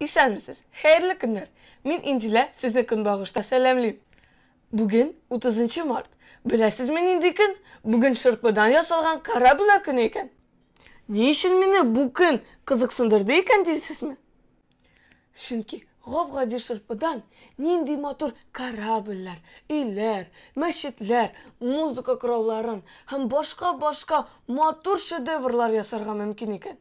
Исәнмесез, хәерле көннәр! Мин Инзилә, сезне көнбагышта сәламлим. Бүген 30 март. Беләсезме нинди көн? Бүген шырпыдан ясалган кораблар көне икән. Ни өчен мине бу көн кызыксындырды икән дисезме? Чөнки гап-гади шырпыдан нинди матур корабльләр, өйләр, мәчетләр, музыка коралларын һәм башка-башка матур шедеврлар ясарга мөмкин икән.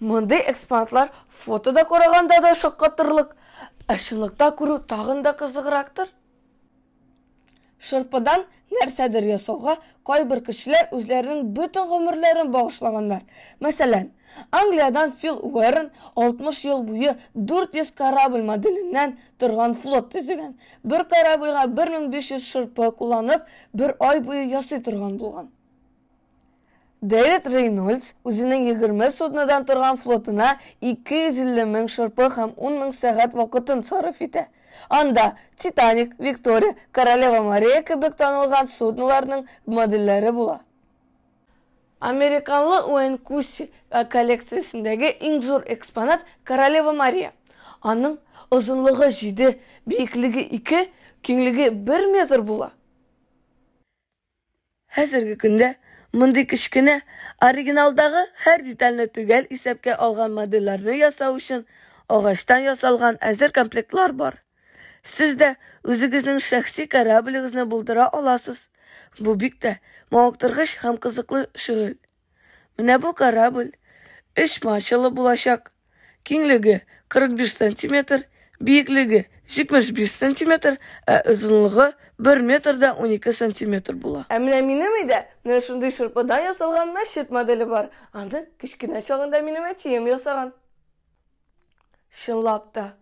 Мондый экспонатлар фотода караганда да шаккатырлык, ә чынлыкта күрү тагын да кызыграктыр. Шырпыдан нәрсәдер ясауга кайбер кешеләр үзләренең бөтен гомерләрен багышлаганнар. Мәсәлән, Англиядән Фил Уэрн 60 ел буе 400 корабль моделеннән торган флот төзегән. Бер корабльга 1500 шырпы кулланып, бер ай буе ясый торган булган. Дэвид Рейнольдс үзенең 20 суднодан торган флотына 250 мең шырпы һәм 10 мең сәгать вакытын сарыф итә. Анда Титаник, Виктория, Королева Мария кебек танылган судноларның модельләре була. Американлы Уэйн Кусси коллекциясендәге иң зур экспонат, Королева Мария. Аның озынлыгы җиде, биеклеге ике, киңлеге бер метр була. Хәзерге көндә мондый кечкенә, оригиналдагы һәр детальне төгәл исәпкә алган модельләрне ясау өчен агачтан ясалган әзер комплектлар бар. Сез дә үзегезнең шәхси кораблегызны булдыра аласыз. Бу бик тә мавыктыргыч һәм кызыклы шөгыль. Менә бу корабль өч мачталы булачак. Киңлеге 45 сантиметр, биеклеге 75 сантиметр, ә озынлыгы 1 метр да 12 сантиметр була. Ә менә минем өйдә менә шундый шырпыдан ясалган мәчет моделе бар. Аны кечкенә чагында минем әтием ясаган. Чынлап та,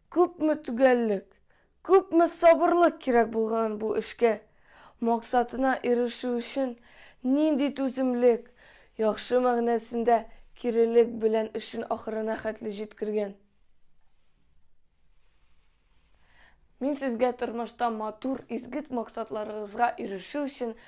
күпме төгәллек, Күпме сабырлык кирәк булган бу эшкә! Максатына ирешү өчен нинди түземлек, яхшы мәгънәсендә кирелек белән эшен ахырына хәтле җиткергән! Мин сезгә тормышта матур, изгет максатларыгызга ирешү өчен